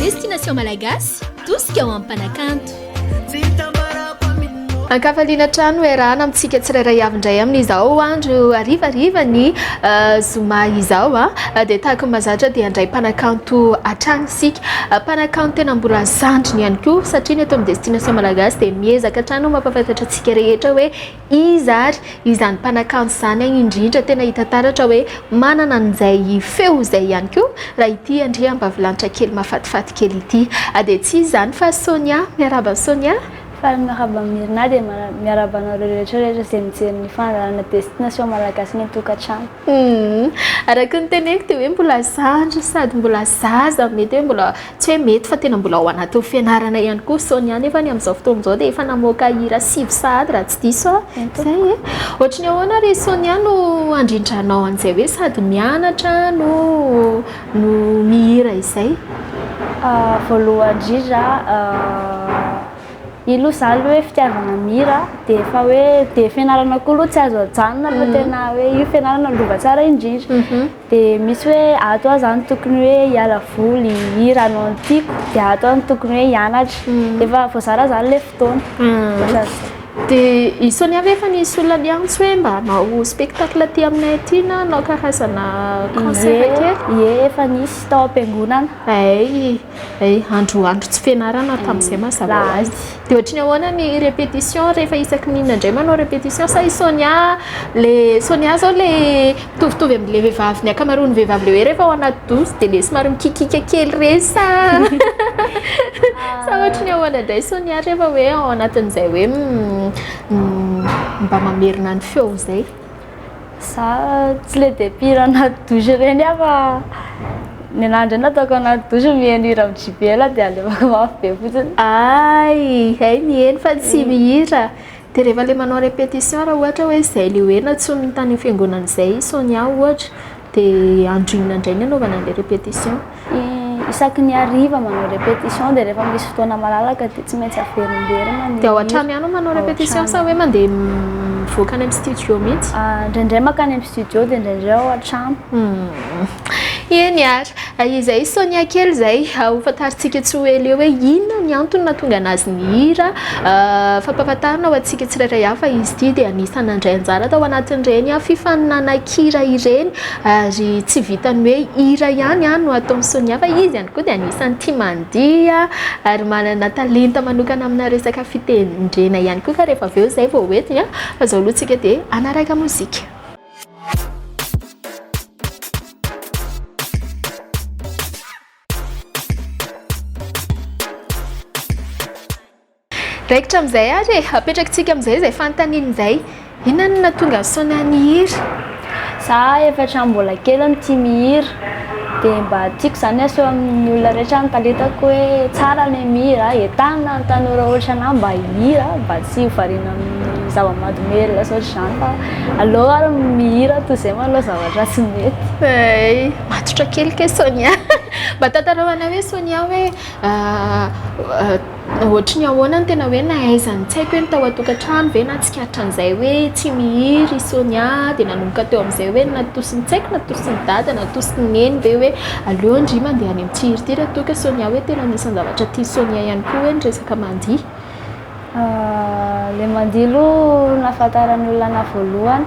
Destination Malagasy, tosika ho an'ny mpanakanto. An-kafaliana hatrany ho iarahana amintsika tsirairay avy indray amin'izao andro harivariva ny zoma izao. dia tahaka ny mazatra dia handray mpanakanto hatrany isika, mpanakanto tena mbola zandriny ihany koa, satria ny eto amin'ny Destination Malagasy dia miezaka hatrany ho mampahafantatra antsika rehetra hoe iza ary izany mpanakanto izany, indrindra tena hita taratra hoe manana an'izay feo izay ihany koa raha ity andriambavilanitra kely mahafatifaty kely ity dia tsy iza izany fa Sonia, miarahaba an'i Sonia. Faly miarahaba an'i Myrna dia miarahaba anareo rehetra rehetra izay mijery ny fandaharana Destination Malagasy ny an-tokantrano. Humm, araka ny teneniko dia hoe mbola zandry sady mbola zaza, mety hoe mbola, tsy hoe mety fa tena mbola ao anatin'ny fianarana ihany koa Sonia nefa ny amin'izao fotoana izao dia efa namoaka hira sivy sahady raha tsy diso aho, izay e! Ohatry ny ahoana ry Sonia no handrindranao an'izay hoe sady mianatra no no mihira izay? Voalohany indrindra io loha zany hoe fitiavana mira dia efa hoe dia fianarana koa loha tsy azo ajanona fa mhm. tena hoe io fianarana lova tsara indrindra mhm. dia misy hoe ato aho zany tokony hoe hiala voly hira anao ny tiako dia ato aho ny tokony hoe hianatra mhm. dia efa voazara zany le fotoana dia isony avy efa nisy olona liantsy hoe mba anao spectacle aty aminay aty na anao karazana concert kely ie efa nisy tao am-piangonana ay Eh, andro andro tsy fianarana tamin'izay mm. mazava ho azy. Dia ohatrin'ny ahoana ny répétition rehefa isaky ny inona indray manao répétition sa i Sonia le Sonia zao le mitovitovy amin'le vehivavy ny ankamaroan'ny vehivavy le hoe rehefa ao anaty douce dia le somary mikikika kely re sa sa ohatrin'ny ahoana indray Sonia rehefa hoe ao anatin'izay hoe mm, mm, mba mamerina ny feo izay. Za tsy le dia mpihira anaty douche ireny aho fa ny anah indray na ataoko anaty douche miheno hira amin'ny JBL aho dia alevako mafy be fotsiny. Hay, hay miheno fa tsy mihira. Dia rehefa ilay manao répétition raha ohatra hoe izay ilay ho heno atsonony tany amin'ny fiangonana izay i Sonia ohatra. Dia androina indray ny anaovana an'ilay répétition? Isaky ny hariva manao répétition dia rehefa misy fotoana malalaka dia tsy maintsy averimberina ny Dia ao an-trano ihany no manao Ao répétition an-trano. sa hoe mandeha mivoaka any amin'ny studio mihitsy? Ah, Indraindray mankany amin'ny studio dia indraindray ao an-trano. Eny ary. Izay Sonia kely izay, ho fantarintsika tsy ho ela eo hoe inona ny antony nahatonga anazy nihira. Fampahafantarana ho antsika tsirairay avy fa izy ity dia anisan'ny nandray anjara tao anatin'ireny fifaninanan'an-kira ireny ary tsy vitan'ny hoe hira ihany no ataon'i Sonia fa izy ihany koa dia anisan'ny tia mandihy ary manana talenta manokana amina resaka fitendrena ihany koa ka rehefa avy eo izay vao ho entiny fa izao aloha isika dia hanaraka mozika. Raikitra amin'izay ary e, apetrakitsika amin'izay izay fanontaniana izay. Inona no nahatonga an'i Sonia nihira? Za efatra amby mbola kely no tia mihira. dia mba tiako izany aseho amin'ny olona rehetra ny talentako hoe tsara ilay mihira, entanina ny tanora ohatra an'ahy mba hihira mba tsy ho variana amin'ny zava-mahadomelina sy ohatr'izany fa aleo ary mihira toy izay moa aloha zavatra tsy mety. Hay, matotra kely kay Sonia. Mba tantarao anay hoe Sonia hoe Ohatry ny ahoana ny tena hoe nahaizany? Tsy haiko hoe ny tao an-tokantrano ve nahatsikaritra an'izay hoe tsy mihira i Sonia dia nanomboka teo amin'izay hoe natosiny, tsy haiko natosiny dada, natosiny neny ve hoe aleo ndry mandeha any amin'ity hira ity raha toa ka Sonia hoe tena anisan'ny zavatra tian'i Sonia ihany koa hoe ny resaka mandihy. Ilay mandihy aloha no nahafantaran'ny olona anà voalohany.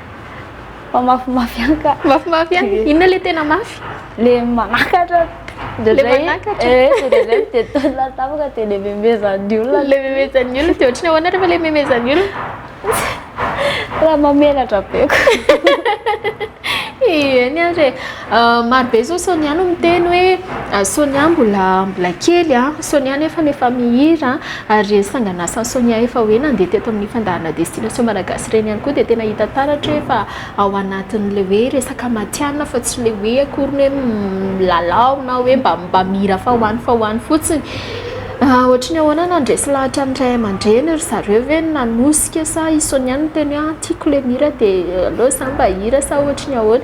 Fa mafimafy ihany ka. Mafimafy ihany. Eh. Inona ilay tena mafy? Le manakatra. Le manakatra. Eh, le dia tolona tampoka dia le memezan'ny olona. Le memezan'ny olona dia ohatry ny ahoana rehefa le memezan'ny olona? Raha mamelatra be ko. Ieny ary e. Maro be zao Sonia no miteny hoe Sonia mbola mbola kely a, Sonia nefa efa mihira ary ireny sangan'asan'i Sonia efa hoe nandeha teto amin'ny fandaharana Destination Malagasy ireny ihany koa dia tena hita taratra hoe efa ao anatin'ilay hoe resaka matihanina fa tsy ilay hoe akory ny hoe milalao na hoe mba mba mihira fa ho any fa ho any fotsiny. Ohatry ny ahoana no handresy lahatra ny ray aman-dreny? Ry zareo ve no nanosika sa i Sonia no niteny hoe tiako ilay mihira dia aleo izaho mba hihira sa ohatry ny ahoana?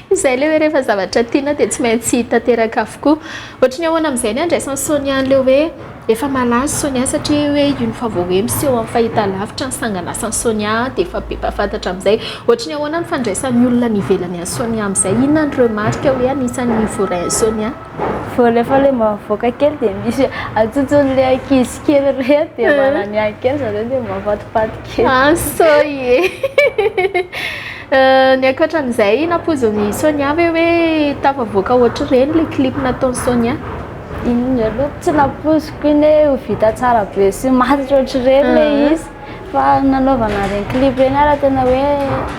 Izay le hoe rehefa zavatra tiana dia tsy maintsy tanteraka avokoa. Ohatry ny ahoana amin'izay ny handraisan'i Sonia an'ilay hoe efa malaza Sonia satria hoe io ny vaovao hoe miseho amin'ny fahitalavitra ny sanganasan'i Sonia dia efa be mpahafantatra amin'izay. Ohatry ny ahoana ny fandraisan'ny olona any ivelany an'i Sonia amin'izay? Inona ny remarque hoe anisan'ny voarain'i Sonia? Vao rehefa ilay mba mivoaka kely dia misy atsotsoan'ilay ankizy kely ireny dia eh. manany any kely zareo dia mampatipaty kely. Ah, soy e. Eh, ny ankoatran'izay nampoizin'i Sonia ve hoe tafavoaka ohatr'ireny ilay clip nataon'i Sonia? Inona aloha tsy nampoiziko iny hoe ho vita tsara be sy maty ohatr'ireny ilay ah. izy. Fa nanaovana ireny clip ireny ary tena hoe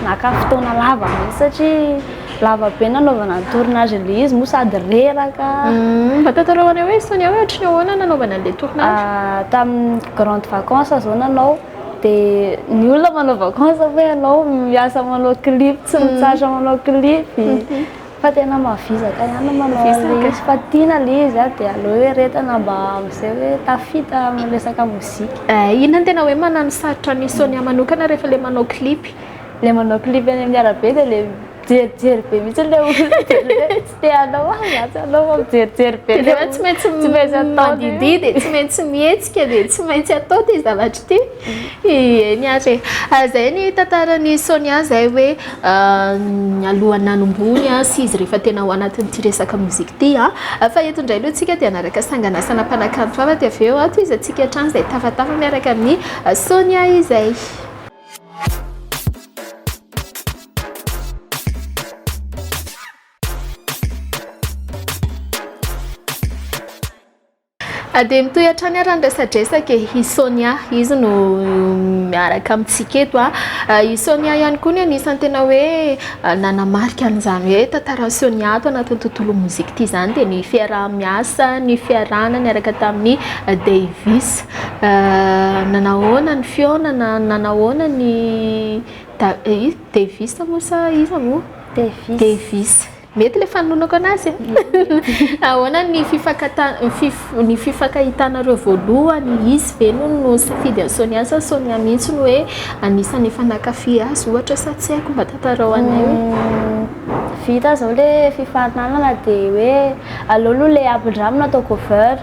naka fotoana lava mihitsy satria lava be nanaovana ny tournage an'ilay izy moa sady reraka. Mba tantarao anay hoe Sonia hoe ohatry ny ahoana nanaovana an'ilay tournage? Tamin'ny grande vacance izao nanao dia ny olona manao vacance fa ianao miasa manao clip, tsy mitsahatra manao clip. Fa tena mavizaka ihany no manao an'ilay izy fa tiana ilay izy dia aleo hoe retana mba amin'izay hoe tafita amin'ny resaka mozika. Eh, inona no tena hoe manano sarotra an'i Sonia manokana rehefa ilay manao clip? Ilay manao clip eny amin'ny arabe dia ilay mijerijery be mihitsy ilay olona dia ilay hoe tsy te hanao ah za tsy hanao fa mijerijery be. Ilay hoe tsy maintsy mandidihy dia tsy maintsy mihetsika dia tsy maintsy atao ity zavatra ity. Eny ary e! Zay ny tantaran'i Sonia zay hoe alohan'ny nanombohony sy izy rehefa tena ao anatin'ity resaka mozika ity. Fa eto indray aloha isika dia hanaraka sangan'asana mpanakanto hafa dia avy eo tohizantsika hatrany izay tafatafa miaraka amin'i Sonia izay. A dia mitohy hatrany ary ny resadresaka e! I Sonia, izy no miaraka amintsika eto a! I Sonia ihany koa no anisan'ny tena hoe nanamarika an'izany hoe tantaran'i Sonia ato anatin'ny tontolon'ny mozika ity izany dia ny fiaraha-miasa, ny fiarahana niaraka tamin'i Davis. Nanahoana ny fihaonana? Nanahoana ny Da- i Davis moa sa iza moa? Davis. Davis. Mety le fanononako anazy a! Ahoana ny ny fifakahitanareo voalohany? Izy ve no nisafidy an'i Sonia sa Sonia mihitsy no hoe anisan'ny efa nankafy azy ohatra sa tsy haiko? Mba tantarao anay hoe. Vita zao le fifaninanana de hoe aleo aloha le ampindramina atao cover.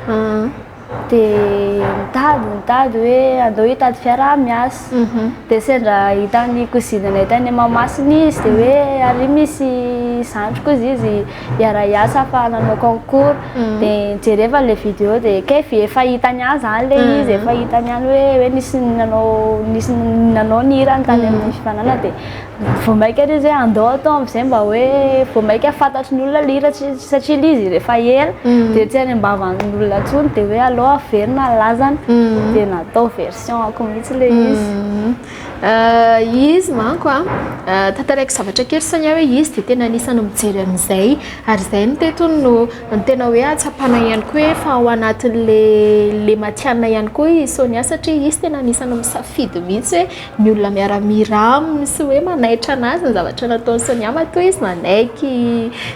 dia nitady nitady hoe andao hitady fiara miasa mhm. dia sendra hitan'ny kozinanay tany mamasina izy dia hoe ary misy zandriko izy izy hiara hiasa fa nanao concours mhm. dia nijereva le vidéo dia kef efa hitany any zany le mhm. izy efa hitany any hoe hoe nisy nanao nisy nanao ny hirany tany amin'ny fifanana dia vao maika le zay andao atao amizay mba hoe vao maika fantatry ny olona le hira satria le izy rehefa ela mm. de tsy any ambavan'ny olona tsony de hoe alao averina lazany mm. de natao version ako mihitsy le mm. izy euh, izy manko a euh, tantaraiko zavatra kely sania hoe izy de tena anisany mijery amizay ary zay ny tetony no ny tena hoe atsapana ihany koa hoe fa ao anatin'le le matiana ihany koa i sonia satria izy tena anisany misafidy mihitsy hoe ny olona miara-mihira aminy sy hoe manaitra anazy ny zavatra nataon'i Sonia matoa izy nanaiky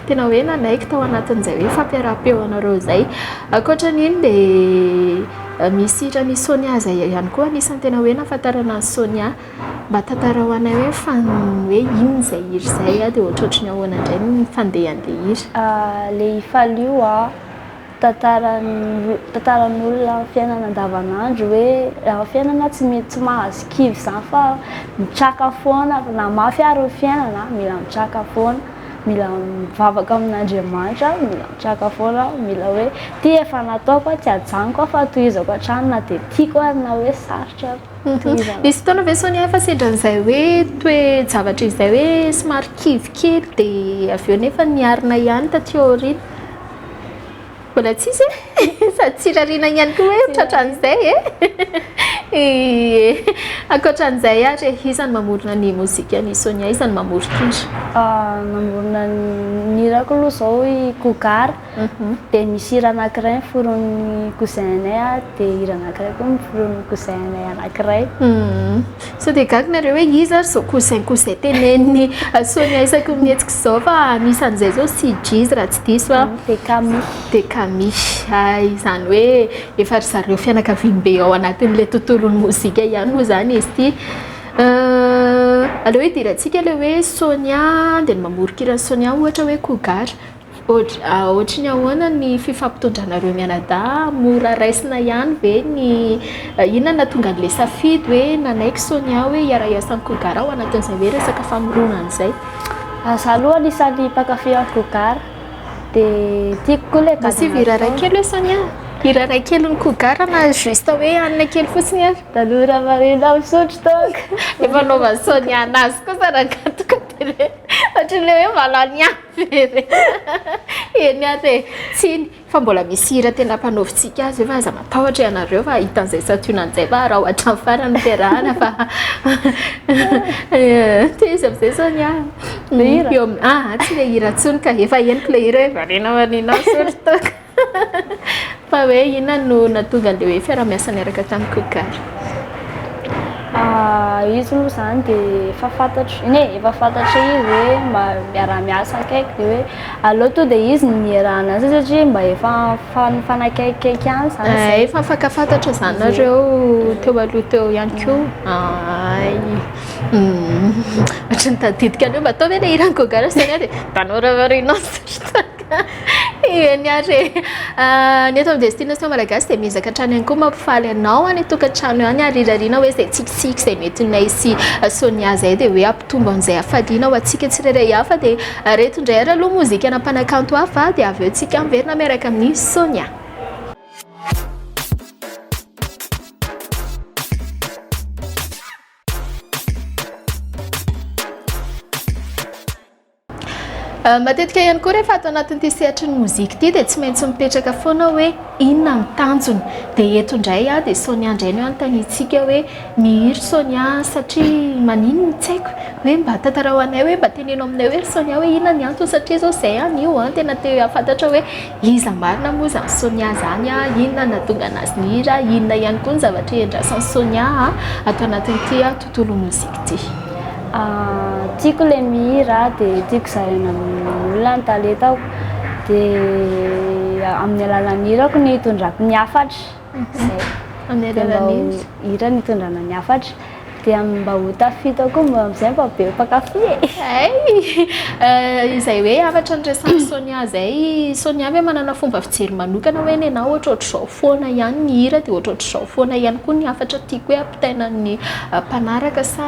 tena hoe nanaiky tao anatin'izay hoe fampiaraham-peo anareo izay ankoatra an'iny dia misy hiran'i Sonia izay ihany koa anisan'ny tena hoe nahafantarana an'i Sonia mba tantarao anay hoe fa hoe inona izay hira izay dia ohatrohatry ny ahoana indray ny fandehan'ilay hira ilay faly io an Tantaran'olona amin'ny fiainana andavanandro hoe raha fiainana tsy mety tsy mahazo kivy izany fa mitraka foana na mafy ary ny fiainana mila mitraka foana, mila mivavaka amin'Andriamanitra, mila mitraka foana, mila hoe ity efa nataoko tsy ajanoko aho fa tohizako hatrany na dia tiako ary na hoe sarotra ary tohizana. Nisy fotoana ve Sonia fa sendran'izay hoe toe-javatra izay hoe somary kivy kely dia avy eo nefa niharina ihany taty aoriana? Mbola tsisy e? Sady tsy irariana ihany koa hoe tratran'izay e? Ie. Ankoatran'izay ary e, iza no mamorona ny mozikan'i Sonia? Iza no mamoron-kira? Namorona ny hirako aloha izao i Cougar, dia misy hira anankiray noforonin'ny cousin-nay dia hira anankiray koa noforonin'ny cousin-nay anankiray. Sao dia gaga nareo hoe iza ary zao cousin cousin teneniny Sonia isaky ny mihetsika izao fa anisan'izay zao CJ's raha tsy diso aho dia Kami dia Kami hay izany hoe efa ry zareo fianakaviany be ao anatin'ilay tontolon'ny mozika ihany moa izany izy ity aleo hidirantsika ilay hoe Sonia dia ny mamoron-kiran'i Sonia ohatra hoe Cougar Ohatry ny ahoana ny fifampitondranareo mianadahy? Mora raisina ihany ve ny, inona no nahatonga an'ilay safidy hoe nanaiky Sonia hoe hiara-hiasa amin'i Kogara ao anatin'izay hoe resaka famoronana izay? Izaho aloha anisan'ny mpankafy an'i Kogara dia tiako koa ilay gadona ataony. Mba hira iray kely hoe Sonia a! Hira iray kelin'i Kogara na juste hoe hanina kely fotsiny ary. Tanora marina misotro toaka. Efa anaovan'i Sonia an'azy kosa raha gataka dia hoe ohatry ny hoe mahalany ahy. Very e! Eny ary e! Tsiny fa mbola misy hira tena mpanaovintsika azy io fa aza matahotra ianareo fa hita an'izay santionany izay fa araho hatramin'ny farany ny fiarahana fa te izy amin'izay izany an. Ny hira? Ah, tsy le hira intsony ka efa henoko le hira hoe variana variana misaotra tompoko. Fa hoe inona no nahatonga an'ilay hoe fiaraha-miasa niaraka tamin'i Kogary? Ah, izy moa izany dia efa fantatro, eny e, efa fantatro izy hoe ma- miaraha-miasa akaiky dia hoe aleo tonga dia izy no niarahana an'izay satria mba efa fa- nifanakaikikaiky ihany izany Ah, izay. efa mifankafantatra izany nareo teo aloha teo ihany koa. Ay. Hmm. Ohatran'ny tadidiko an'io mba tao ve ilay hiran'i Kogary sy Tania dia tanora variana sy tantara. Eny ary e. Ah, ny eto amin'ny Destination Malagasy dia miezaka hatrany ihany koa mampifaly anao any an-tokantrano any ary irariana hoe izay tsikitsiky izay metinay sy Sonia izay dia hoe hampitombo an'izay hafaliana ho antsika tsirairay hafa dia ireto indray ary aloha mozikana mpanakanto hafa dia avy eo tsika miverina miaraka amin'i Sonia. Matetika ihany koa rehefa ato anatin'ity sehatry ny mozika ity dia tsy maintsy mipetraka foana hoe inona ny tanjona. Dia eto indray aho dia Sonia indray no hanontaniantsika hoe nihiry Sonia satria maninona tsy haiko hoe mba tantarao anay hoe mba teneno aminay hoe ry Sonia hoe inona ny antony satria izao izay aho anio an tena te hahafantatra hoe iza marina moa izany Sonia izany an, inona no nahatonga an'azy nihiry an, inona ihany koa ny zavatra iandrasan'i Sonia an ato anatin'ity an. Tolo musique ty. Ah, tiako le mihira de tiako zaraina amin'olona ny talentako de amin'ny alalan'ny hirako no itondrako ny hafatra. Zay. Amin'ny alalan'ny hira no itondrana ny hafatra. Dia mba ho tafita ao koa mba amin'izay mba be mpankafy e. Hay! Izay hoe hafatra niresahan'i Sonia zay, Sonia ve manana fomba fijery manokana hoe nenà ohatrohatr'izao foana ihany ny hira dia ohatrohatr'izao foana ihany koa ny hafatra tiako hoe Tenan'ny mpanaraka sa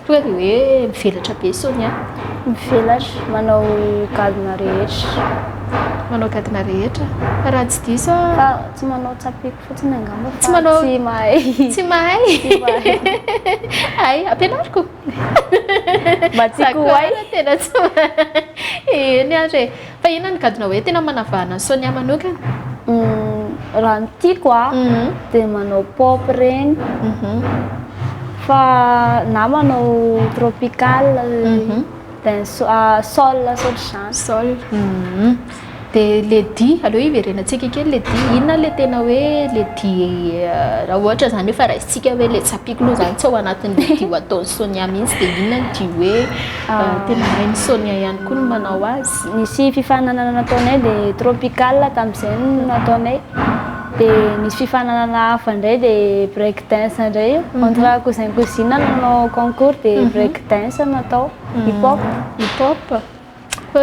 tonga dia hoe mivelatra be Sonia? Mivelatra, manao gadona rehetra. Manao gadona rehetra? Raha tsy diso a. Fa tsy manao tsapiky fotsiny angamba fa tsy manao tsy mahay. Tsy mahay. Tsy mahay. Ay, ampianariko. Mba tsy kohay. Tena tsy mahay. Eny ary e. Fa inona no gadona hoe tena manavahana an'i Sonia manokana? Raha ny tiako a dia manao pop ireny fa na manao tropical dance soul ohatr'izany. Soul. Dia ilay dihy, aleo hiverenantsika kely ilay dihy. Inona ilay tena hoe ilay dihy raha ohatra izany efa raisintsika hoe ilay tsapiako aloha izany tsy ao anatin'ilay dihy ho ataon'i Sonia mihitsy dia inona ny dihy hoe. Tena hain'i Sonia ihany koa ny manao azy. Nisy fifaninanana nataonay dia tropical tamin'izay no nataonay. Dia nisy fifaninanana hafa indray dia break dance indray io. Mhm. Entre cousin cousine no nanao concours dia mhm. break dance no natao. Hip hop. Hip hop.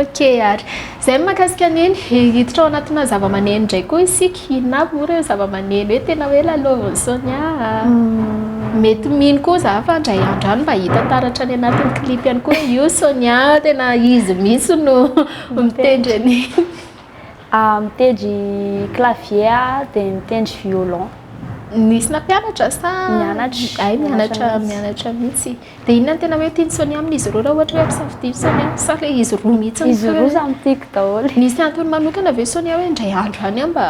Ok ary. Zay ny mahakasika Neny. He hiditra ao anatina zavamaneno indray koa isika, inona avy moa ireo zavamaneno hoe tena hoe lalaovin'i Sonia a? Mety mino koa za fa indray andro any mba hita taratra any anatin'ny clip ihany koa hoe io Sonia tena izy mihitsy no mitendry an'iny. Mitendry clavier aho dia mitendry violon. Nisy nampianatra sa? Nianatra. Hay mianatra mianatra mihitsy. Dia inona no tena hoe tian'i Sonia amin'izy ireo raha ohatra hoe ampisafidiany Sonia sa ilay izy roa mihitsy no tiany? Izy roa samy tiako daholo e. Misy antony manokana ve Sonia hoe indray andro any aho mba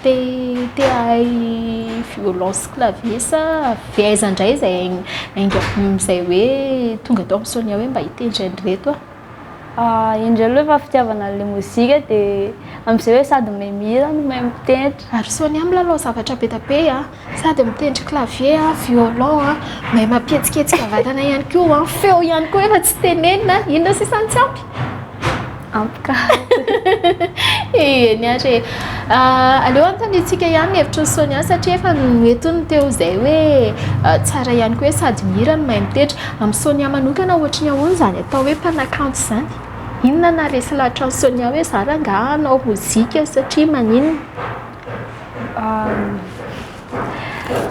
te te hahay violon sy clavier sa avy aiza indray izay ainga izay hoe tonga tao amin'i Sonia hoe mba hitendry an'ireto aho? Indreo aloha efa fitiavana an'ilay mozika dia amin'izay hoe sady mahay mihira no mahay mitendry. Ary Sonia milalao zavatra be dia be a! Sady mitendry clavier a, violon a, mahay mampihetsiketsika vatana ihany koa a, feo ihany koa efa tsy tenenina, inona sisa no tsy ampy? Ampy ka. Eny ary e. Ah, aleo anontaniantsika ihany ny hevitry ny Sonia satria efa noentiny teo izay hoe ah, tsara ihany koa hoe sady mihira no mahay mitendry. Amin'i Sonia manokana ohatry ny ahoana izany atao hoe mpanakanto izany? Inona no naharesy lahatra an'i Sonia hoe za rangahy hanao mozika satria maninona?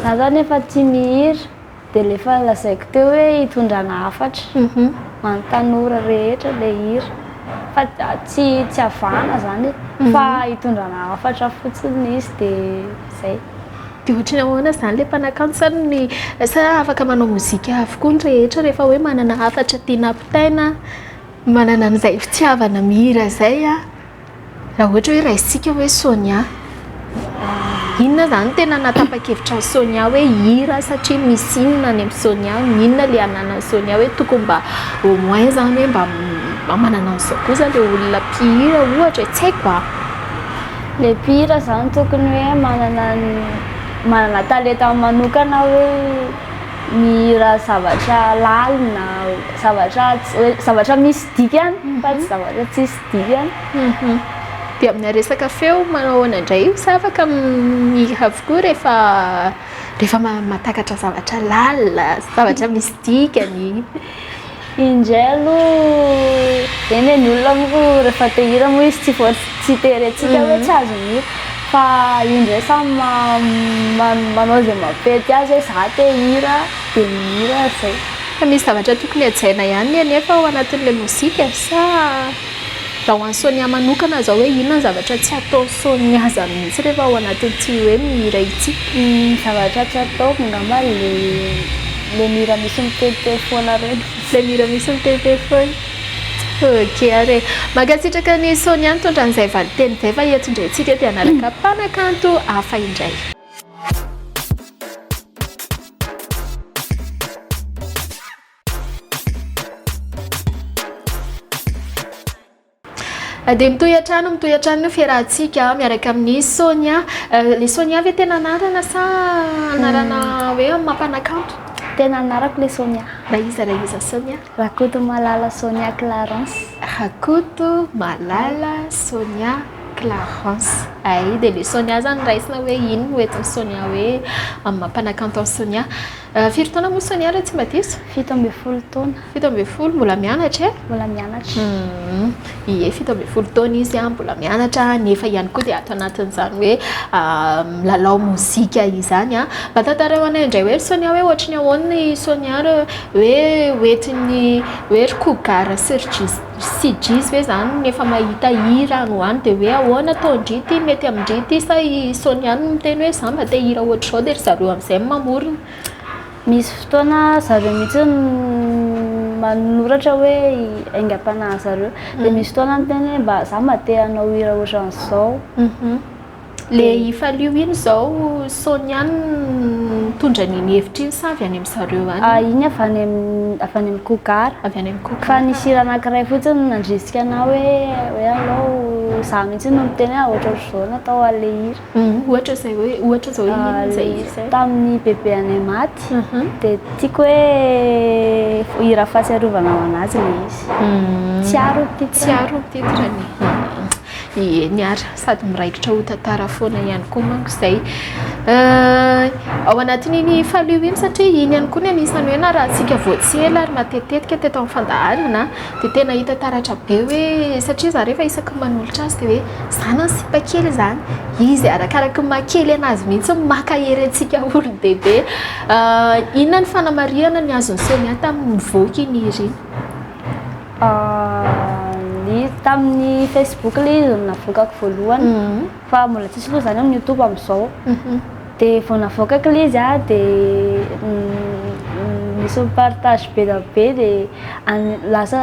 Za zany efa tsy mihira de lefa lazaiko teo hoe hitondrana hafatra any tanora rehetra le hira fa tsy tsy avahana zany fa hitondrana hafatra fotsiny izy de zay. De ohatry ny ahoana zany le mpanakanto sa ny sa afaka manao mozika avokoa ny rehetra rehefa hoe manana hafatra tiana ampitaina manana an'izay fitiavana mihira zay a. Raha ohatra hoe raisintsika hoe Sonia, inona izany tena nahatapa-kevitra an'i Sonia hoe hira satria misy inona any amin'i Sonia, inona ilay ananan'i Sonia hoe tokony mba au moins izany hoe mba manana an'izao kosa ilay olona mpihira ohatra e, tsy haiko an! Ilay mpihira izany tokony hoe manana ny manana talentany manokana hoe mihira zavatra lalina, zavatra tsy hoe zavatra misy dikany fa tsy zavatra tsisy dia dia amina resaka feo manao ahoana indray io sa afaka mihira avokoa rehefa rehefa mahatakatra zavatra lalina zavatra misy dikany indray aloha eny ny olona moa rehefa te hira moa izy tsy voa tsy terentsika hoe tsy azo ny fa indray samy manao izay mampety azy hoe za te hira dia mihira izay Fa misy zavatra tokony hajaina ihany ny anefa ao anatin'ilay mozika sa raha ho an'i Sonia manokana izao hoe inona ny zavatra tsy ataon'i Sonia zany mihitsy rehefa ao anatin'ity hoe mihira ity? Ny zavatra tsy ataoko angamba ilay mihira misy miteniteny foana ireny. Ilay mihira misy miteniteny foana. Ok ary e. Mankasitraka an'i Sonia nitondra an'izay valinteny izay fa eto indray isika dia hanaraka mpanakanto hafa indray. dia mitohy hatrany mitohy hatrany ny fiarahantsika miaraka amin'ny Sonia euh, le Sonia ve tena anarana sa anarana hmm. hoe mampanakanto tena anarako le Sonia raha iza raha iza Sonia Rakotomalala Sonia Clarence. Rakoto malala Sonia Clarence. Ay dia le Sonia zany raisina hoe inn no eton'i Sonia hoe amin'ny maha mpanakanto an'i Sonia. Firy taona moa Sonia raha tsy mba diso? Fito ambin'ny folo taona. Fito ambin'ny folo, mbola mianatra e? Mbola mianatra. ie fito ambin'ny folo taona izy a, mbola mianatra nefa ihany koa dia ato anatin'izany hoe milalao mozika izany a, mba tantarao anay indray hoe ry Sonia hoe ohatry ny ahoana i Sonia hoe hoentin'ny hoe ry Cougar sy ry Jis sy Jiz ve zany ny efa mahita hira any ho any de hoe ahoana ataon-dry ity, mety amin-dry ity sa i Sonia no miteny hoe za mba te hira ohatr'izao de ry zareo am'zay no mamorona. Misy fotoana zareo mihitsy manoratra hoe aingam-panahy zareo. Dia misy fotoana miteny hoe mba za mba te hanao hira ohatran'izao. Le ifalio iny izao Sonia mitondra an'iny hevitra iny sa avy any amin'ny zareo any? Ah, iny avy any amin'ny avy any amin'ny Cougar. Avy any amin'ny Cougar. Fa nisy hira anankiray fotsiny nandrisika anah hoe hoe alou za mihitsy no niteny hoe ohatrohatr'izao no atao an'ilay hira. Ohatra izay hoe, ohatra izao inona izay hira izay? Tamin'ny bebeanay maty, dia tiako hoe hira fahatsiarovana ho an'azy ilay izy. Tsiaro ny titre. Tsiaro ny titre-ny. Eny ary, sady miraikitra ho tantara foana ihany koa manko izay. Ao anatin'iny Faliu iny satria iny ihany koa no anisan'ny hoe narahantsika vao tsy ela ary matetitetika teto amin'ny fandaharana. Dia tena hita taratra be hoe satria za rehefa isaky ny manolotra azy dia hoe za na ny sipa kely izany izy arakaraky ny maha kely anazy mihitsy no maka hery antsika olon-dehibe. Inona ny fanamarihana ny azon'i Sonia tamin'ny nivoaka i Nirina? Izy tamin'ny Facebook ilay izy no navokako voalohany fa mbola tsisy aloha izany amin'ny Youtube amin'izao. Dia vao navoaka kle izy an, dia nisy ny partage be dia be dia lasa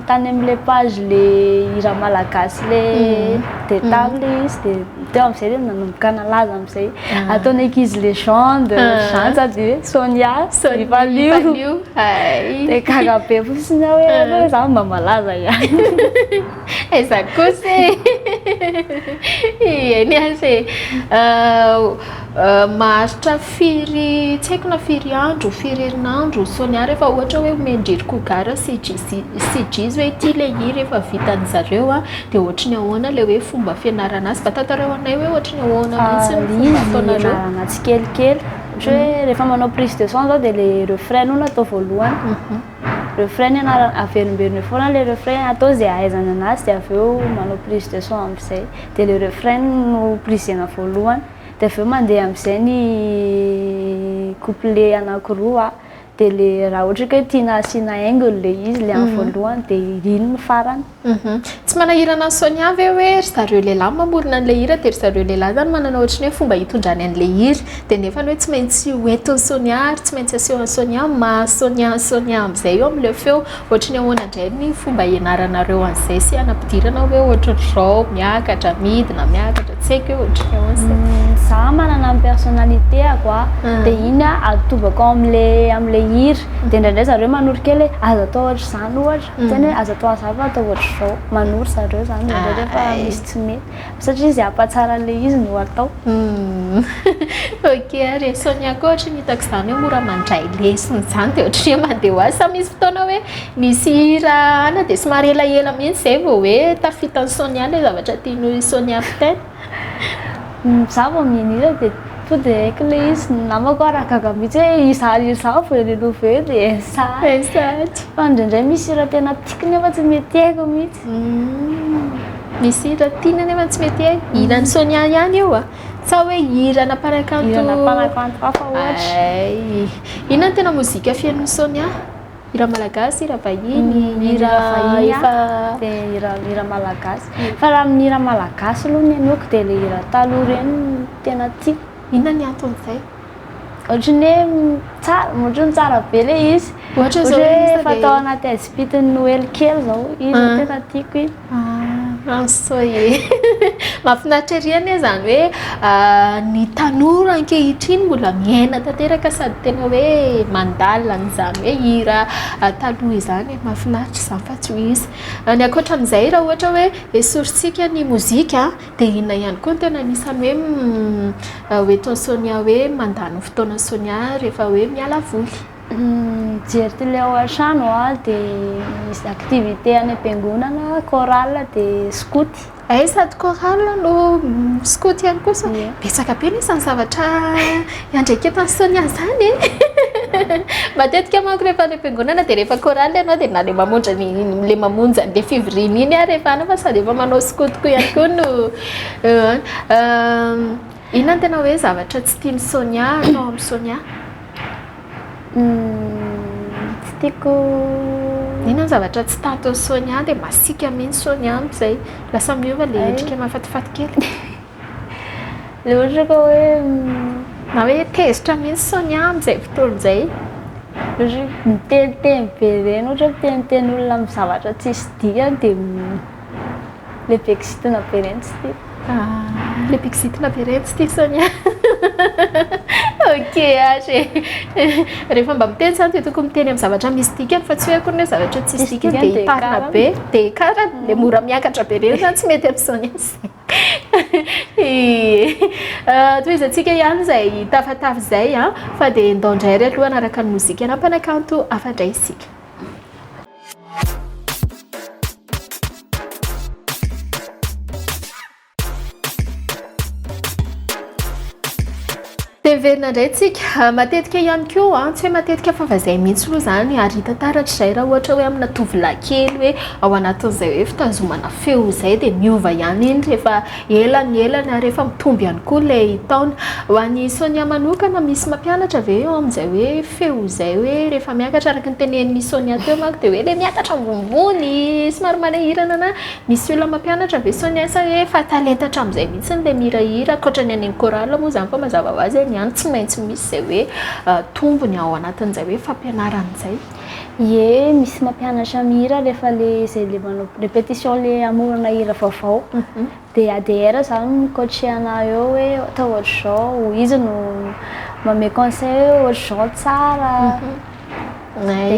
tany amin'ilay page ilay hira malagasy le dia tamy le izy dia teo amin'izay dia nanomboka nalaza amin'izay ataon'ny ankizy legende, zany sady hoe Sonia, Sonia Valio, hay, dia gaga be fotsiny aho hoe zany mba malaza ihany. Aiza kosa e! Eny aza e! Maharitra firy, tsy haiko na firy andro, firy herinandro, Sonia, rehefa ohatra hoe omen-dry Koga sy Jizo hoe ity ilay hira efa vitan'ny zareo dia ohatry ny ahoana ilay hoe fomba fianarana azy? Mba tantarao anay hoe ohatry ny ahoana mihitsy no fomba ataonareo? Ianarana tsikelikely. Ohatra hoe rehefa manao prise de son izao dia ilay refrain aloha no atao voalohany. refrain ny anarana averimberiny foana le refrain atao zay ahaizana anazy de avy eo manao prise de son amizay de le refrain no prisena voalohany de avy eo mandeha amizay ny couplet anakiroa de le raha ohatra ka hoe tiana asiana haingony le izy le any voalohany de iny ny farany Uhum. Tsy manahirana an'i Sonia ve hoe ry zareo lehilahy no mamorona an'ilay hira dia ry zareo lehilahy izany manana ohatry ny hoe fomba hitondrany an'ilay hira dia nefany hoe tsy maintsy ho entin'i Sonia ary tsy maintsy asehon'i Sonia maha Sonia an'i Sonia amin'izay eo amin'ilay feo ohatry ny ahoana indray ny fomba hianaranareo an'izay sy hanampidirana hoe ohatry ry zao miakatra midina miakatra tsy haiko hoe ohatry ny ahoana izay Umm, za manana ny personnalité-ako a, Ah. de iny a atobako ao amle amle hira, de ndraindray zareo manoro kely hoe aza atao ohatr'izany ohatra. Tena hoe aza atao hazava atao ohatr'izao. Manoro zareo izany indraindray rehefa misy tsy mety. Satria izy hampatsara an'ilay izy no atao. Ok ary e. Sonia koa ohatry ny hitako izany hoe mora mandray lesona izany dia ohatry ny hoe mandeha ho azy. Sa misy fotoana hoe misy hira any dia somary elaela mihitsy izay vao hoe tafita an'i Sonia ilay zavatra tian'i Sonia ho teny? Za vao mian'hira de to de haiko le izy, ny namako ary gaga mihitsy hoe iza ary iza vao renova eo de SH, fa ndraindray misy hira tena tiako nefa tsy mety haiko mihitsy. Misy hira tiana nefa tsy mety haiko, hiran'i Sonia ihany io a? Sa hoe hiranà mpanakanto? Hiranà mpanakanto hafa ohatra. Hay, inona no tena mozika fenon'i Sonia? Hira malagasy, hira vahiny, hira vahiny efa dia hira hira malagasy. Fa raha amin'ny hira malagasy aloha ny inoako dia ilay hira taloha ireny no tena tiako. Inona ny anton'izay? Ohatra ny hoe tsara, ohatra ny tsara be ilay izy. Ohatra izao hoe efa tao anaty haizim-pitin'ny Noely kely izao, iny no tena tiako iny. Ah, I'm so ye. Mahafinaritra ery anie izany hoe ah, ny tanora ankehitriny mbola miaina tanteraka sady tena hoe mandala an'izany hoe hira ah, taloha izany. Mahafinaritra izany fa tsy ho izy. Ah, ny ankoatra an'izay raha ohatra hoe esorintsika ny mozika dia inona ihany koa no tena anisan'ny hoe hoentin'i Sonia hoe mandany fotoana Sonia rehefa hoe miala voly? Mijery télé ao an-trano aho dia misy activité any am-piangonana, chorale dia skoto. Hay sady chorale no skoto ihany koa sao betsaka be lesy ny zavatra iandraiketan'i Sonia izany e! Matetika manko rehefa any am-piangonana dia rehefa chorale ianao dia na ilay mamonjy ny ilay mamonjy an'ilay fivoriana iny ary efa any fa sady efa manao skoto koa ihany koa no inona no tena hoe zavatra tsy tian'i Sonia atao amin'i Sonia? Tsy tiako. Inona ny zavatra tsy tahaton'i Sonia dia masiaka mihitsy Sonia amin'izay. Lasa miova ilay endrika mahafatifaty kely. Ilay ohatra ka hoe na hoe tezitra mihitsy Sonia amin'izay fotoana izay. Ohatra hoe miteniteny be ireny, ohatra hoe miteniteny olona amin'ny zavatra tsisy dikany dia. Le beksitina be reny tsy tiako. Ah, le beksitina be reny tsy tiako Sonia. Ok ash e. Rehefa mba miteny zany dia tokony miteny amin'ny zavatra misy dikany fa tsy hoe akory ny hoe zavatra tsisy dikany dia hitarina be, dia hikarana, dia mora miakatra be reny zany tsy mety amin'ny Sonia izay. Tohizantsika ihany izay tafatafa izay an, fa dia ndao indray ary aloha hanaraka ny mozika ana mpanakanto hafa indray isika. Miverina indray tsika matetika ihany koa tsy hoe matetika fa fa izay mihitsy aloha izany ary hita taratra izay raha ohatra hoe amina tovolahy kely hoe ao anatin'izay hoe fitazomana feo izay dia miova ihany iny rehefa Ela ny ela ny ary efa mitombo ihany koa ilay taona. Ho an'i Sonia manokana, misy mampianatra ve eo amin'izay hoe feo izay hoe rehefa miakatra? Araka ny tenenin'i Sonia teo manko dia hoe ilay miakatra ambonimbony, somary manahirana na misy olona mampianatra ve Sonia sa hoe efa talenta hatramin'izay mihitsy ilay mihirahira? Ankoatra ny any amin'ny chorale moa izany fa mazava ho azy any ihany tsy maintsy misy izay hoe tombony ao anatin'izay hoe fampianarana izay. Ie misy mampianatra mihira rehefa le zay le manao répétition le amorona hira vaovao mhm. de ADR zany mikoatrehana eo hoe atao ohatr'izao izy no mame conseil hoe ohatr'izao tsara mhm.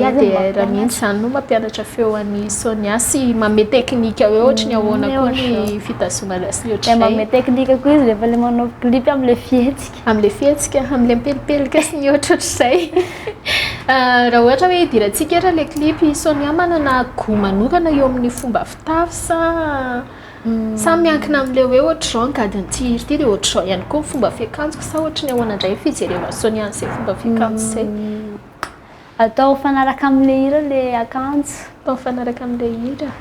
ADR mihitsy zany no mampianatra feo an'i Sonia sy mame teknika hoe ohatry ny ahoana koa ny fitazomana sy ohatr'izay mame teknika koa izy rehefa le manao clip am'le fihetsika Amin'ilay fihetsika, amin'ilay mipelipelika sy ny ohatrohatr'izay. Raha ohatra hoe idirantsika ary ilay clip, i Sonia manana goût manokana eo amin'ny fomba fitafy sa sa miankina amin'ilay hoe ohatr'izao ny gadon'ity hira ity dia ohatr'izao ihany koa ny fomba fiakanjoko sa ohatry ny ahoana indray ny fijerena an'i Sonia an'izay fomba fiakanjo izay? Atao mifanaraka amin'ilay hira ilay akanjo. Atao mifanaraka amin'ilay hira.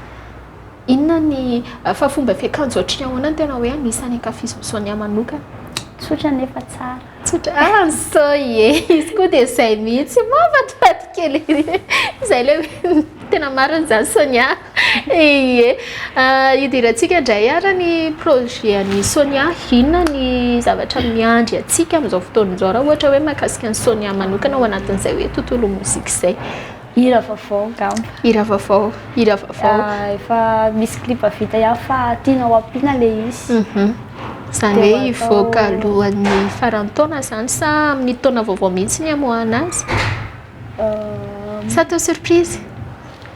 Inona ny fa fomba fiakanjo ohatry ny ahoana no tena hoe anisan'ny ankafizin'i Sonia manokana? Tsotra nefa tsara. Tsotra ah ny Soy e! Izy koa dia izay mihitsy, mahafatifaty kely ery. Izay ilay hoe tena marina izany Sonia. Ie. Idirantsika indray ara ny projet an'i Sonia. Inona ny zavatra miandry antsika amin'izao fotoana izao raha ohatra hoe mahakasika an'i Sonia manokana ao anatin'izay hoe tontolo mozika izay. Hira vaovao angamba. Hira vaovao, hira vaovao. Ah, efa misy clip vita ihany fa tianao ampiana le izy. Mhm. Izany hoe hivoaka alohan'ny faran'ny taona izany sa amin'ny taona vaovao mihitsy ny hamoahana azy? Euh, Sa atao surprise?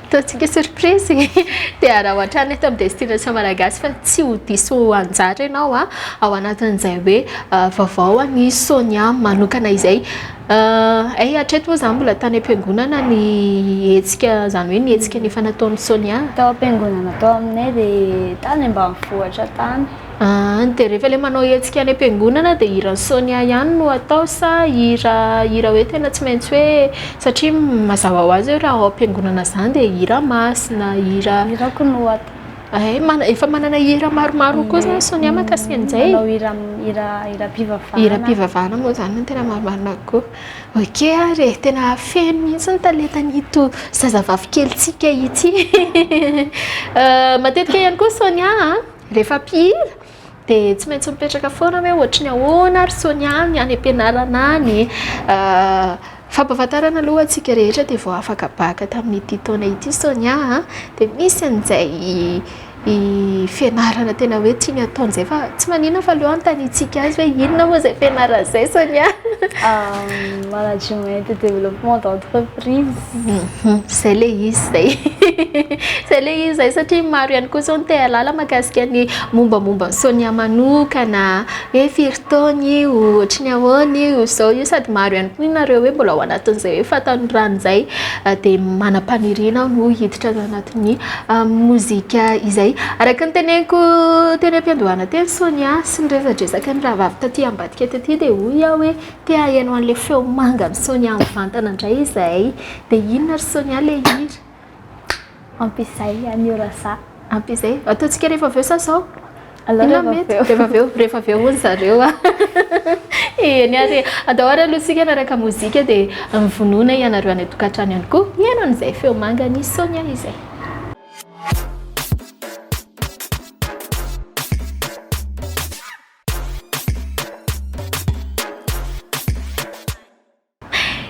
Ataontsika surprise e! Dia araho hatrany eto amin'ny Destination Malagasy fa tsy ho diso anjara ianao ao anatin'izay hoe vaovao an'i Sonia manokana izay. Hay hatreto moa izany mbola tany am-piangonana ny hetsika, izany hoe ny hetsika nifanataon'i Sonia? Tao am-piangonana tao aminay dia tany ambanivohitra tany. Aa dia rehefa ilay manao hetsika any am-piangonana dia hiran'i Sonia ihany no atao sa hira hira hoe tena tsy maintsy hoe satria mazava ho azy hoe raha ao am-piangonana izany dia hira masina, hira. Hirako no atao. Hay mana- efa manana hira maromaro koa izany Sonia mahakasika an'izay e. Manao hira hira hiram-pivavahana. Hiram-pivavahana moa izany no tena marimarina kokoa. Ok ary e, tena feno mihitsy ny talentan'ito zazavavy kelintsika ity. Matetika ihany koa Sonia a. Rehefa mpihira dia tsy maintsy mipetraka foana hoe ohatry ny ahoana ary Sonia ny any am-pianarana any. Fampahafantarana aloha antsika rehetra dia vao afaka baka tamin'ity taona ity Sonia a. Dia misy an'izay fianarana tena hoe tiany hatao an'izay fa tsy maninona fa aleo anontaniantsika azy hoe inona moa izay fianarana izay Sonia? Management et développement d'entreprise. Zay le izy zay zay le izy zay satria maro ihany koa zao no te hahalala mahakasika ny mombamomba an'i Sonia manokana hoe firy taona io, ohatry ny ahoana io, izao io sady maro ihany koa nareo hoe mbola ao anatin'izay hoe fahatanoranana izay dia manam-paniriana aho ho hiditra ao anatin'ny mozika izay. Araka ny teneniko teny am-piandohana teny Sonia sy ny resadresaka nirahavavy taty ambadika taty dia hoy aho hoe Te haheno an'ilay feo manga an'i Sonia mivantana indray izahay. Dia inona ry Sonia ilay hira? Ampizay anio Rasa. Ampizay. Ataontsika rehefa avy eo sa zao? Aleo Inona rehefa mety? avy eo. Rehefa avy eo, rehefa avy eo hono zareo. Eny ary, andao ary aloha isika hanaraka mozika dia mivonona ianareo any an-tokantrano ihany koa hihaino an'izay feo manga an'i Sonia izay.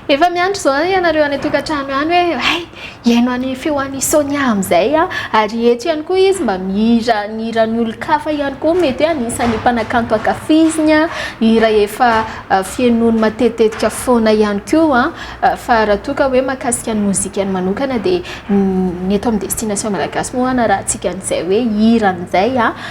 Efa miandry izao ianareo any an-tokantrano any hoe hay hihaino any feo any Sonia amin'izay a ary eto ihany koa izy mba mihira ny hiran'ny olon-kafa ihany koa mety hoe anisan'ny mpanakanto ankafiziny a hira efa uh, fihainoany matetitetika foana ihany koa uh, fa raha toa ka hoe makasika ny mozikany manokana dia ny eto amin'ny destination malagasy moa na raha antsika an'izay hoe hira an'izay a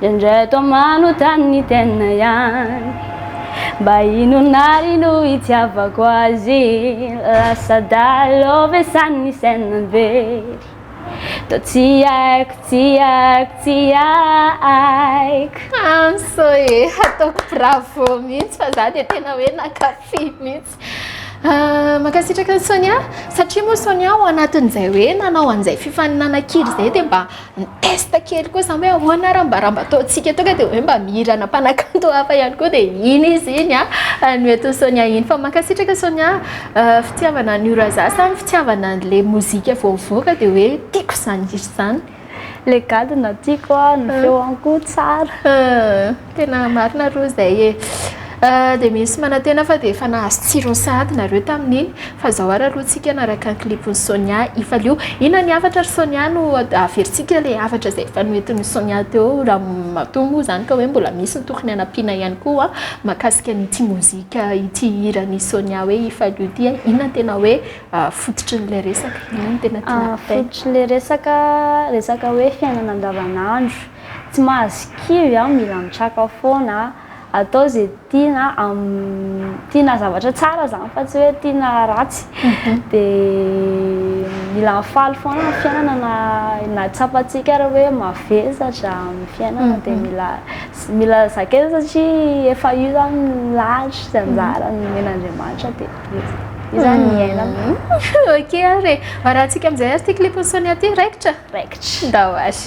Indraindray toa manontany ny tena ihany Mba inona ary no itiavako azy Lasa dahalo ve sa ny saina very Toa tsy haiko, tsy haiko, tsy haiko Amso e! Ataoko bravo mihitsy fa za dia tena hoe nankafy mihitsy. Mankasitraka an'i Sonia satria moa Sonia ao anatin'izay hoe nanao an'izay fifaninanana kira izay dia mba ni-test kely koa izany hoe ahoana ary mba raha mba ataontsika tonga dia hoe mba mihirana mpanakanto hafa ihany koa dia iny izy iny no entin'i Sonia iny. Fa mankasitraka Sonia, fitiavana an'io Razà sa ny fitiavana an'ilay mozika vao mivoaka dia hoe tiako izany hira izany. Le gadona tiako a, ny feony koa tsara. Tena marina aloha izay e. Dia misy manantena fa dia efa nahazo tsirony sahady nareo tamin'iny fa izao ary aloha tsika hanaraka ny clipn'i Sonia Ifalio. Inona ny hafatra ry Sonia no averintsika ilay hafatra izay efa noentin'i Sonia teo raha matoa moa izany ka hoe mbola misy ny tokony hanampiana ihany koa mahakasika an'ity mozika ity hiran'i Sonia hoe Ifalio ity e. Inona ny tena hoe fototry ny le resaka ino no tena tiana ah, kitay fototry le resaka resaka hoe fiainana andavanandro tsy mahazo kivy ah mila mitraka foana atao ze tiana am tiana zavatra tsara zany fa tsy hoe tiana ratsy mhm. de mila mifaly foana ny fiainana na na tsapantsika ary hoe mavesatra amin'ny fiainana de mhm. mila mila zakena satria efa io zany lahatra sy anjara nomen'andriamanitra de Izany iaina. Ok ary e. Varahantsika amin'izay ary ity clip Sonia ity raikitra. Raikitra. Ndao ary.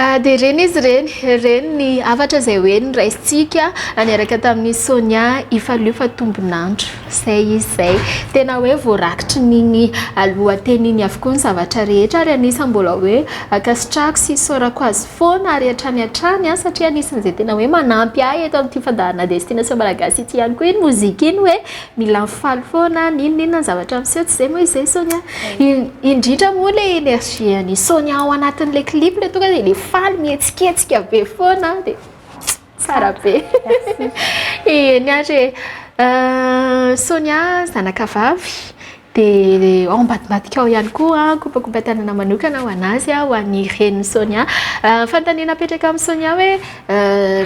Ah, dia ireny izy ireny ireny ny avatra izay hoe ny raisitsika niaraka tamin'ny sonia ifalio fa tombonandro izay izy izay tena hoe voarakitry niny alohateniny avokoa ny zavatra rehetra ary anisa mbola hoe akasitrako sy isaorako azy foana ary hatrany hatrany an ah, satria anisan'izay tena hoe manampy ahy eto amin'ity fandaharana destination malagasy ity ihany koa iny mozika iny hoe Mila mifaly foana, n'inon'inona ny zavatra miseho, tsy izay moa izy izay Sonia? Indrindra moa ilay énergie an'i Sonia ao anatin'ilay clip ilay tonga dia ilay faly mihetsiketsika be foana dia tsara be. Eny ary e. Sonia zanakavavy. Dia ao ambadibadika ao ihany koa, kopakopan-tanana manokana ho an'azy, ho an'ny renin'i Sonia. Fanontaniana apetraka amin'i Sonia hoe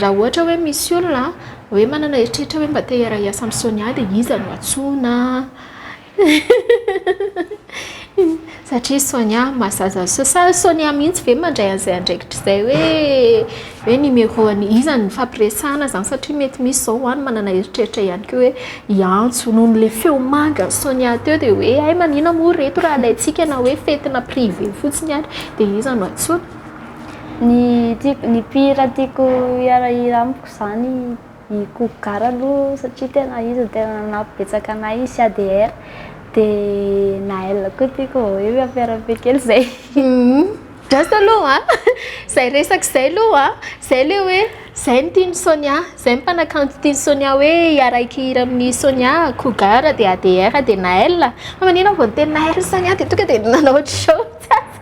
raha ohatra hoe misy olona hoe manana eritreritra hoe mba te hiara-hiasa amin'i Sonia dia iza no antsoina? Satria Sonia mahazaza an'i Sonia. Sa Sonia mihitsy ve mandray an'izay andraikitra izay hoe. hoe numéro an'i iza no nifampiresahana izany satria mety misy izao ho'a no manana eritreritra ihany koa hoe i Antso noho ilay feo manga an'i Sonia teo dia hoe hay manina moa ireto raha alaintsika na hoe fetina privé fotsiny ary dia iza no antsoina. Ny tiako, ny mpihira tiako hiara-hira amiko izany. I Koko Gara aloha satria tena izy no tena nanampy betsaka anay sy ADR dia Naël koa tiako vao hoe miamperabe kely izay. Just aloha an! Izay resaka izay aloha an! Izay ilay hoe izay no tian'i Sonia, izay ny mpanakanto tian'i Sonia hoe hiarahika hira amin'i Sonia, Koko Gara dia ADR dia Naël. Fa maninona vao niteny Naël sy Sonia dia tonga dia nanao ohatry izao mihitsy aza.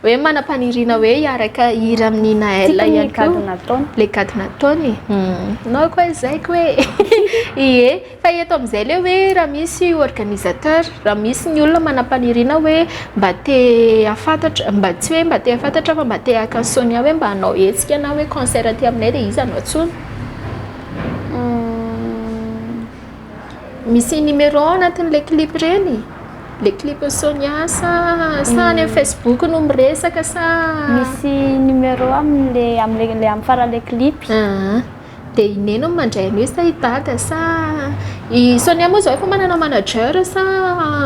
Hoe manam-paniriana hoe hiaraka hira amin'ny Naël ihany koa. Tiako ny gadona ataony. Ilay gadona ataony? Ianao koa izay ko e! Ie, fa eto amin'izay ilay hoe raha misy organisateur, raha misy ny olona manam-paniriana hoe mba te hahafantatra, mba tsy hoe mba te hahafantatra fa mba te haka an'i Sonia hoe mba hanao hetsika na hoe concert aty aminay dia iza no antsoina? Misy numéro ao anatin'ilay clip ireny? Ilay clipin'i Sonia sa sa any amin'ny Facebook no miresaka sa? Misy numéro amin'ilay amin'ilay ilay amin'ny faran'ilay clip. Ah, dia i Neny no mandray an'io sa i Dada sa i Sonia moa izao efa manana manager sa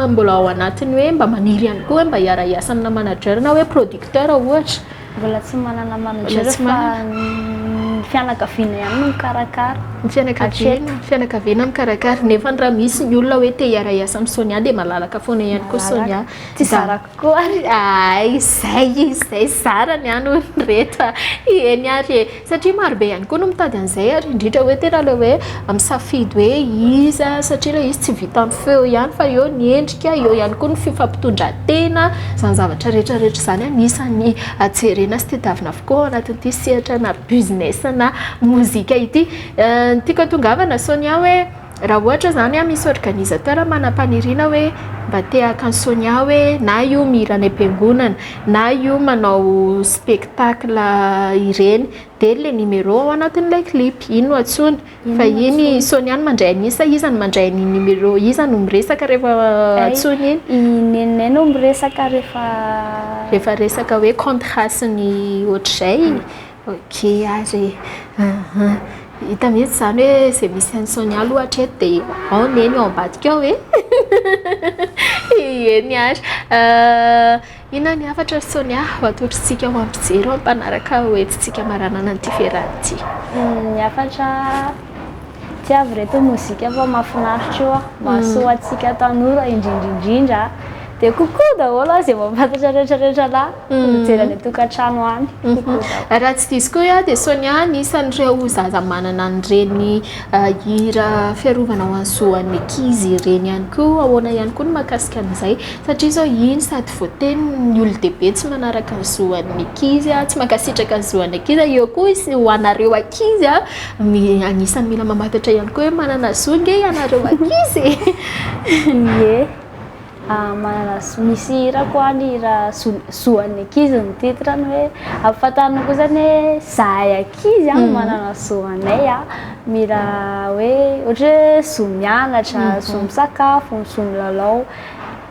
mbola ao anatin'ny hoe mba maniry ihany koa hoe mba hiara-hiasa amina manager na hoe producteur ohatra? Mbola tsy manana manager fa ny fianakaviana ihany no mikarakara. Ny fianakaviana, fianakaviana mikarakara nefa raha misy ny olona hoe te hiara-hiasa amin'ny Sonia dia malalaka foana ihany koa Sonia. Tsy zarako koa. Hay izay izay zarany any olona rehetra. Eny ary e, Satria maro be ihany koa no mitady an'izay ary indrindra hoe tena ilay hoe misafidy hoe iza satria ilay izy tsy vitan'ny feo ihany fa eo ny endrika, eo ihany koa ny fifampitondran-tena, izany zavatra rehetra rehetra izany anisan'ny jerena sy tadiavina avokoa ao anatin'ity sehatrana business-na mozika ity. Ny tiako hatongavana Sonia hoe. Raha ohatra zany misy organisateur manam-paniriana hoe mba te haka an'i Sonia hoe na io mihira any am-piangonana na io manao spectacle ireny dia le numéro ao anatin'ilay clip iny no antsoina fa iny Sonia no mandray an'iny sa iza no mandray an'iny numéro iza no miresaka rehefa antsoina iny? I Neninay no miresaka rehefa rehefa resaka hoe contrat sy ny ohatr'izay. Ok ary e, aha, hita mihitsy izany hoe izay misy an'i Sonia aloha hatreto dia ao Neny ao ambadika ao e, hihi, eny ary, inona ny hafatra ry Sonia ho atolotr'tsika ho an'ny mpijery ao amin'ny mpanaraka hoentintsika maranana an'ity fiarahana ity? Ny hafatra tsy avy reto mozika fa mahafinaritra io ah mahasoa antsika tanora indrindra indrindra dia kokoa daholo ah izay mampatatra rehetra rehetra lahy mijery any an-tokantrano any raha tsy diso koa ah dia Sonia ny isan'ireo zaza manana an'ireny hira fiarovana ho an'ny zoan'ny ankizy ireny ihany koa ahoana ihany koa ny mahakasika an'izay satria izao iny sady voateny ny olon-dehibe tsy manaraka ny zoan'ny ankizy ah tsy mankasitraka ny zoan'ny ankizy ah eo koa izy ho anareo ankizy ah Anisan'ny mila mamantatra ihany koa hoe manana zo nge ianareo ankizy e. Ie. Ah, manana zo. Misy hira koa any hira zo, zo an'ny ankizy ny titre-ny hoe ampahafantarina koa zany hoe zahay ankizy an, manana zo anay an, mila hoe ohatra hoe zo mianatra, zo misakafo, zo milalao.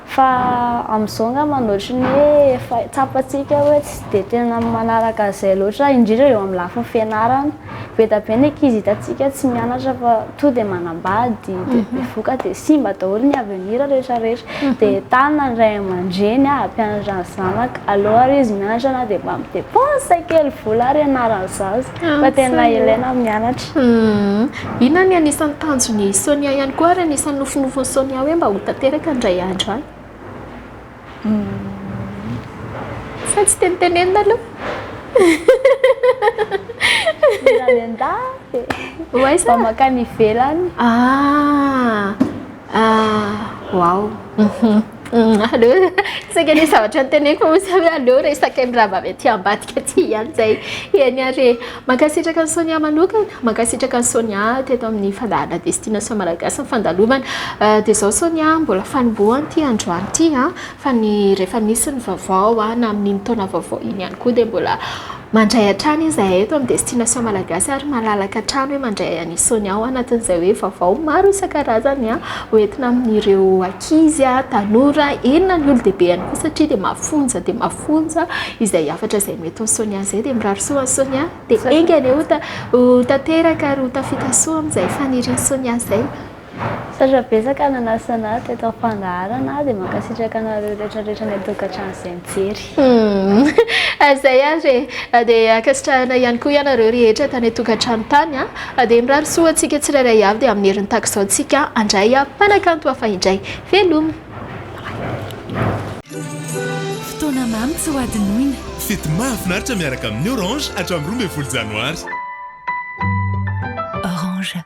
Fa amin'izao angamba no ohatry ny hoe efa tsapantsika hoe tsy dia tena manaraka an'izay loatra indrindra eo amin'ny lafiny fianarana. Be dia be ny ankizy hitantsika tsy mianatra fa tonga dia manambady, dia bevoka, dia simba daholo ny avenir rehetra rehetra. Dia entanina ny ray aman-dreny hampianatra ny zanaka, aleo ary izy mianatra na dia mba mi-depense kely vola ary ianaran'ny zaza. Fa tena ilaina ny mianatra. Inona ny anisan'ny tanjon'i Sonia ihany koa ary anisan'ny nofinofin'i Sonia hoe mba ho tanteraka indray andro any? Sa tsy tenitenenina aloha? Mila miandahy e! Ho aiza? Mba mankany ivelany. Ah! Waouh! Mm, aleo saika ny zavatra niteneniko fa misy hoe aleo resaka ny raha avy aty ambadika aty ihany izay eny ary mankasitraka ny Sonia manokana mankasitraka ny Sonia teto amin'ny fandaharana destination malagasy ny fandalovana euh, dia izao Sonia mbola fanombohany ity androany ity fa ny rehefa misy ny vaovao na amin'iny taona vaovao iny ihany koa dia mbola Mandray hatrany izahay eto amin'ny Destination Malagasy ary malalaka hatrany hoe mandray an'i Sonia ao anatin'izay hoe vaovao maro isan-karazany ho entina amin'ireo ankizy, tanora, eny na ny olon-dehibe ihany koa satria dia mafonja dia mafonja izay hafatra izay noentin'i Sonia izay dia mirary soa an'i Sonia dia enga anie ho tanteraka ary ho tafita soa amin'izay fanirian'i Sonia izay. Misaotra betsaka nanasa anah teto ampandaharana dia mankasitraka anareo rehetra rehetra any antokatrano zay mijery. Humm zay ary e! dia ankasitrahana ihany koa ianareo rehetra tany antokatrano tany a! dia mirary soa ho antsika tsirairay avy dia amin'ny herin'ny takizao tsika andray a! mpanakanto hafa indray! velomy! Fotoana mamy tsy ho adinoina. Fety mahafinaritra miaraka amin'ny Orange hatramin'ny roa ambin'ny folo Janoary. Orange.